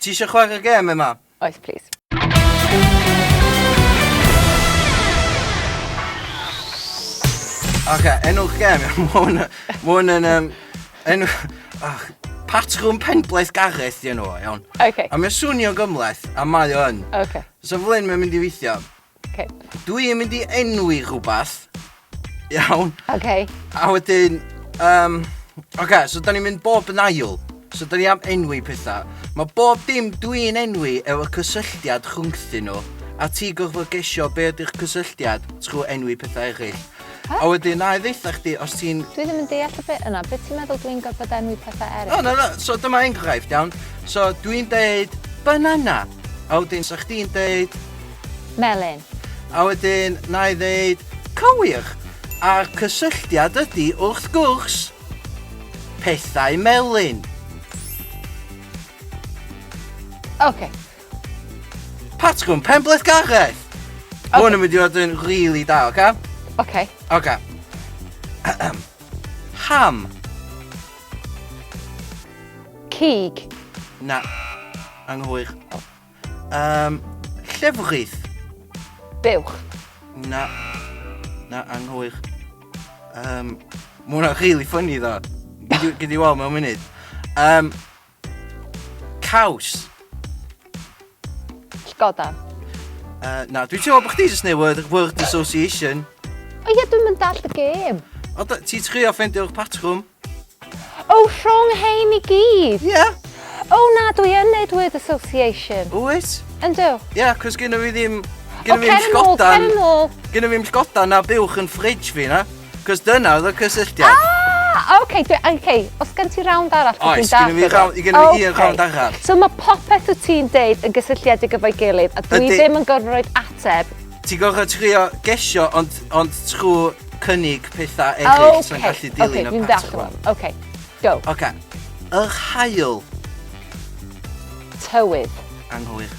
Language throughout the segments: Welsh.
Ti isio chwarae gêm, Emma? Oes, plis. Oce, enw'r gêm. Mae hwn mae hwn yn... Um, enw... Oh, Patrwm penblaeth Gareth di enw o, iawn. Okay. A mae'n swnio gymleth, a mae o yn. Okay. So Flynn, mae'n mynd i weithio. Okay. Dwi yn mynd i enwi rhywbeth. Iawn. Okay. A wedyn, um, oce, okay, so da ni'n mynd bob yn ail. So da ni am enwi pethau. Mae bob dim dwi'n enwi efo cysylltiad rhwngthyn nhw. A ti gorfod gesio be ydy'r cysylltiad trwy enwi pethau eraill. A wedyn, na i ddeitha chdi os ti'n... Dwi ddim yn deall y bit yna, beth ti'n meddwl dwi'n gorfod enwi pethau eraill? O, na, na, so dyma enghraifft, iawn. So dwi'n deud banana, a wedyn sa chdi'n deud... Melyn. A wedyn, na i ddeud cywir. A'r cysylltiad ydy, wrth gwrs, pethau melyn. OK, Patgwn Penbleth Gareth! Okay. Hwn yn mynd i fod yn really da, oce? Okay? Oce. Okay. Oce. Ham. Cig. Na. Anghywir. Um, llefrith. Buwch. Na. Na, anghywir. Um, Mae hwnna'n really funny ddo. Gyd i weld mewn munud. Um, Caws. Llgoda. Uh, na, dwi'n teimlo bod chdi jyst neu word, word association. O ie, dwi'n mynd all y gêm. O, ti trio ffendio'r patrwm? O, rhwng hein i gyd? Ie. Yeah. O na, dwi yn neud word association. Wyt? Yndw. Ie, yeah, cos gynnu fi ddim... Gynnu fi ddim sgodan... O, cer yn ôl, cer yn ôl. Gynnu fi ddim sgodan na buwch yn ffridge fi, na? Cos dyna oedd y cysylltiad. Ah! Ah, oce, dwi, oce, os gen ti rawnd arall, dwi'n Oes, gynnu fi rawnd, gynnu fi un rawnd arall. So mae popeth wyt ti'n deud yn gysylltiedig efo'i gilydd, a dwi Ydy. ddim yn gorfod roed ateb. Ti'n gorfod trio gesio, ond, ond trwy cynnig pethau eraill sy'n gallu dilyn okay, y dwi'n dallt patrwm. rwan. Oce, go. Oce. Yr hael Tywydd. anghywir.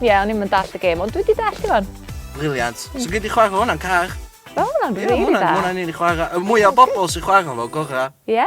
Ie, o'n i'm yn dallt y gêm, ond dwi 'di dallt i wan. Briliant. So gei di chwarae hwnna'n car. Wel, hwnna'n Ie, rili hwnna'n dda. hwnna'n un i chwarae. Y mwy o bobl sy'n chwarae fo, gorau. Ie.